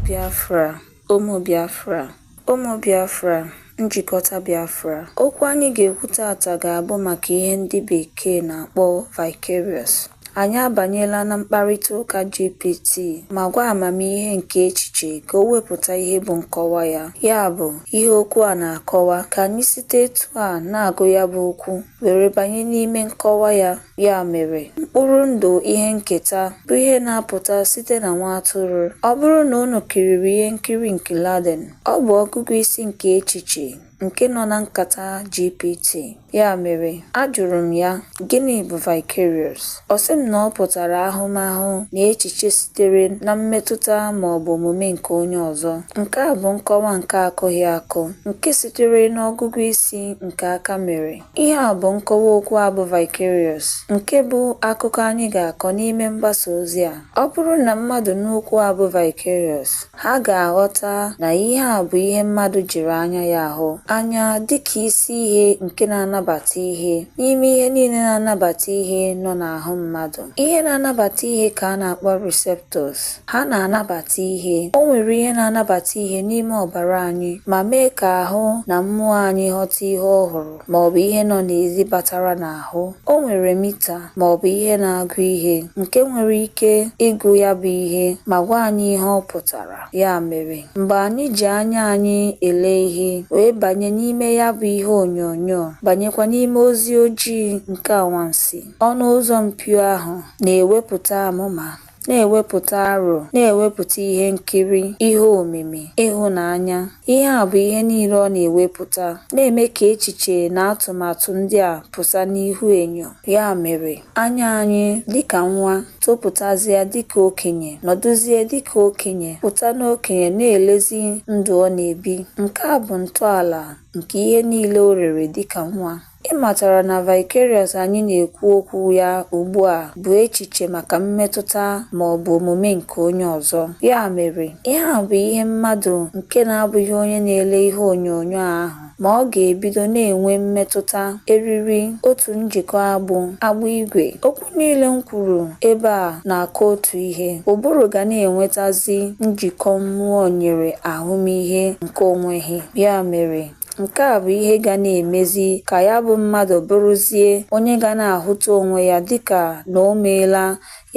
Biafra, ụmụ Biafra, ụmụ Biafra, njikọta Biafra. Okwu anyị ga-ekwu tata ga-abụ maka ihe ndị Bekee na-akpọ vicarious. Anyị abanyela na mkparịta ụka GPT ma gwa amamihe nke echiche ka o wepụta ihe bụ nkọwa ya, ya bụ, ihe okwu a na-akọwa, ka anyị site etu a na-agụ ya bụ okwu. were banye n'ime nkọwa ya. Ya mere, mkpụrụ ndụ ihe nketa bụ ihe na-apụta site na nwa atụrụ. Ọ bụrụ na unu kiriri ihe nkiri nke Laden, ọ bụ ọgụgụ isi nke echiche nke nọ na nkata GPT. Ya mere, ajụrụ m ya, Gịnị bụ vicarious? Ọ sị m na ọ pụtara ahụmahụ na echiche sitere na mmetụta ma ọ bụ omume nke onye ọzọ. Nke a bụ nkọwa nke akụghị akụ, nke sitere n'ọgụgụ isi nke aka mere. Ihe a bụ nkọwa okwu a bụ vicarious, nke bụ akụkọ anyị ga-akọ n'ime mgbasa ozi a. Ọ bụrụ na mmadụ nụ okwu a bụ vicarious, Ha ga-aghọta na ihe a bụ ihe mmadụ jiri anya ya ahụ, anya dị ka isi ihe nke na-anabata ihe n'ime ihe niile na-anabata ihe nọ n'ahụ mmadụ. Ihe na-anabata ihe ka a na-akpọ receptors. Ha na-anabata ihe. O nwere ihe na-anabata ihe n'ime ọbara anyị ma mee ka ahụ na mmụọ anyị ghọta ihe ọhụrụ. ma ọ bụ ihe nọ n'ezi batara n'ahụ. O nwere mita ma ọ bụ ihe na-agụ ihe nke nwere ike ịgụ ya bụ ihe ma gwa anyị ihe ọ pụtara. Ya mere, mgbe anyị ji anya anyị ele ihe wee banye n'ime ya bụ ihe onyonyo, banyekwa n'ime ozi ojii nke anwansi, ọnụ ụzọ mpio ahụ na-ewepụta amụma. na-ewepụta aro, na-ewepụta ihe nkiri, ihe omimi, ịhụnanya. Ihe a bụ ihe niile ọ na-ewepụta, na-eme ka echiche na atụmatụ ndị a pụta n'ihu enyo. Ya mere, anya anyị dịka nwa, topụtazịa dịka okenye, nọdụzie dịka okenye, pụta n'okenye na-elezi ndụ ọ na-ebi. Nke a bụ ntọala nke ihe niile o lere dịka nwa. Ị matara na vicarious anyị na-ekwu okwu ya ugbu a bụ echiche maka mmetụta ma ọ bụ omume nke onye ọzọ. Ya mere, ihe a bụ ihe mmadụ nke na-abụghị onye na-ele ihe onyonyo ahụ ma ọ ga-ebido na-enwe mmetụta, eriri, otu njikọ agbụ, agbụ igwe. Okwu niile m kwuru ebe a na-akọ otu ihe. Ụbụrụ ga na-enwetazi njikọ mmụọ nyere ahụmịhe nke o nweghị. Ya mere, Nke a bụ ihe ga na-emezi ka ya bụ mmadụ bụrụzie onye ga na-ahụta onwe ya dịka na o meela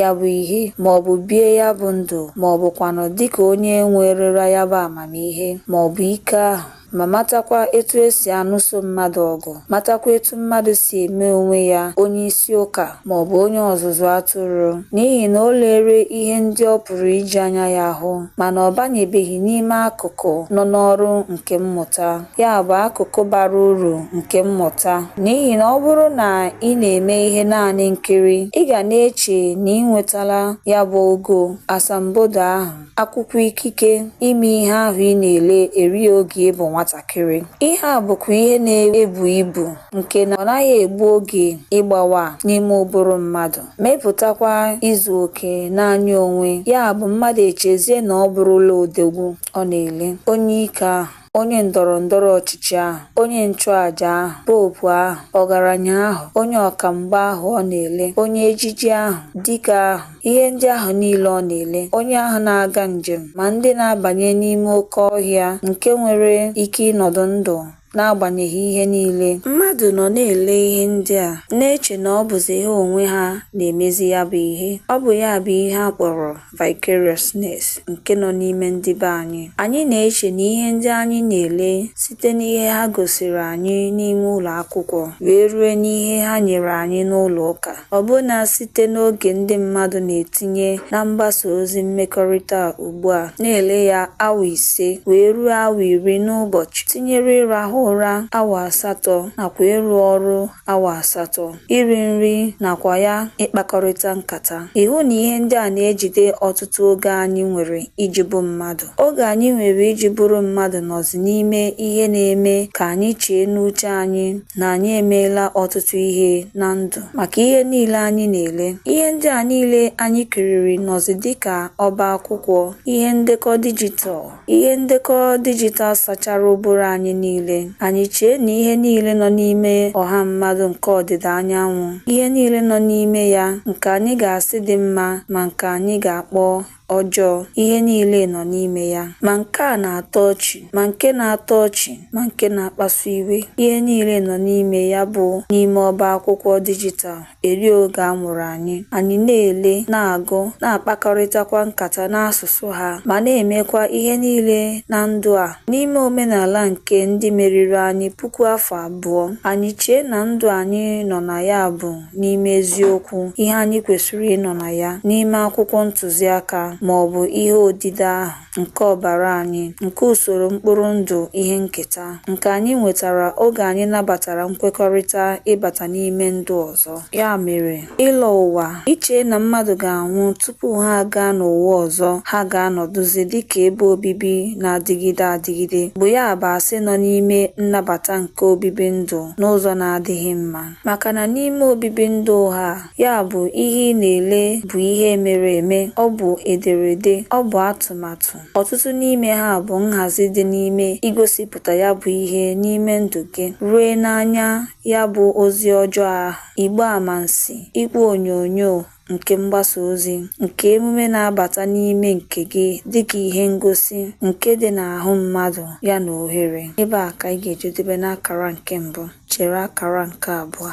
ya bụ ihe ma ọ bụ bie ya bụ ndụ ma ọ bụkwanụ dịka onye nwerela ya bụ amamihe ma ọ bụ ike ahụ ma matakwa etu e si anụso mmadụ ọgụ, matakwa etu mmadụ si eme onwe ya onye isi ụka. ma ọ bụ onye ọzụzụ atụrụ, n'ihi na o lere ihe ndị ọ pụrụ iji anya ya hụ, mana ọ banyebeghị n'ime akụkụ nọ n'ọrụ nke mmụta, ya bụ, akụkụ bara uru nke mmụta. N'ihi na ọ bụrụ na ị na-eme ihe naanị nkiri, ị ga na-eche na i nwetala ya bụ ogo asambodo ahụ. akwụkwọ ikike ime ihe ahụ ị na-ele eri oge ị bụ nwatakịrị ihe a bụkwa ihe na-ebu ibu nke na ọ naghị egbu oge ịgbawa n'ime ụbụrụ mmadụ mepụtakwa izu oke n'anya onwe ya bụ mmadụ echezie na ọ bụrụla odogwu ọ na-ele onye ike ahụ onye ndọrọ ndọrọ ọchịchị ahụ, onye nchụaja ahụ, popu ahụ, ọgaranya ahụ, onye ọka mgba ahụ ọ na-ele, onye ejiji ahụ, dike ahụ, ihe ndị ahụ niile ọ na-ele, onye ahụ na-aga njem, ma ndị na-abanye n'ime oke ọhịa nke nwere ike ịnọdụ ndụ n'agbanyeghị ihe niile. Mmadụ nọ na-ele ihe ndị a, na-eche na ọ bụzi ha onwe ha na-emezi ya bụ ihe. Ọ bụ ya bụ ihe a kpọrọ vicariousness nke nọ n'ime ndị be anyị. Anyị na-eche na ihe ndị anyị na-ele site n'ihe ha gosiri anyị n'ime ụlọ akwụkwọ wee rue n'ihe ha nyere anyị n'ụlọ ụka, ọbụna site n'oge ndị mmadụ na-etinye na mgbasa ozi mmekọrịta ugbu a, na-ele ya awa ise wee ruo awa iri n'ụbọchị, tinyere ịrahụ ụra awa asatọ nakwa ịrụ ọrụ awa asatọ, iri nri nakwa ya ịkpakọrịta nkata. Ị hụ na ihe ndị a na-ejide ọtụtụ oge anyị nwere iji bụ mmadụ. Oge anyị nwere iji bụrụ mmadụ nọzi n'ime ihe na-eme ka anyị chee n'uche anyị na anyị emeela ọtụtụ ihe na ndụ. Maka ihe niile anyị na-ele, ihe ndị a niile anyị kiriri nọzi dị ka ọba akwụkwọ ihe ndekọ dijital. Ihe ndekọ dijital sachara ụbụrụ anyị niile. Anyị chee na ihe niile nọ n'ime ọha mmadụ nke ọdịda anyanwụ, ihe niile nọ n'ime ya, nke anyị ga-asị dị mma ma nke anyị ga-akpọ ọjọọ, ihe niile nọ n'ime ya. Ma nke a na-atọ ọchị, ma nke na-atọ ọchị, ma nke na-akpasu iwe, ihe niile nọ n'ime ya bụ n'ime ọba akwụkwọ dijital. eri oge a mụrụ anyị, anyị na-ele, na-agụ, na-akpakọrịtakwa nkata n'asụsụ ha, ma na-emekwa ihe niile na ndụ a. N'ime omenala nke ndị meriri anyị puku afọ abụọ, anyị chee na ndụ anyị nọ na ya bụ n'ime eziokwu, ihe anyị kwesịrị ịnọ na ya, n'ime akwụkwọ ntụziaka, ma ọ bụ ihe odide ahụ. nke ọbara anyị, nke usoro mkpụrụ ndụ ihe nketa, nke anyị nwetara oge anyị nabatara nkwekọrịta ịbata n'ime ndụ ọzọ. Ya mere, ịlọ ụwa, iche na mmadụ ga-anwụ tupu ha agaa n'ụwa ọzọ ha ga-anọdụzi dị ka ebe obibi na-adịgide adịgide, bụ ya bụ asị nọ n'ime nnabata nke obibi ndụ n'ụzọ na-adịghị mma. Maka na n'ime obibi ndụ ụgha a, Ya bụ, ihe ị na-ele bụ ihe e mere eme, ọ bụ ederede, ọ bụ atụmatụ. Ọtụtụ n'ime ha bụ nhazi dị n'ime igosipụta ya bụ ihe n'ime ndụ gị, rue n'anya ya bụ ozi ọjọọ ahụ, igbe amansi, igwe onyonyo nke mgbasa ozi, nke emume na-abata n'ime nke gị dịka ihe ngosi nke dị n'ahụ mmadụ ya na ohere. Ebe a ka anyị ga-ejedebe n'akara nke mbụ. chere akara nke abụọ.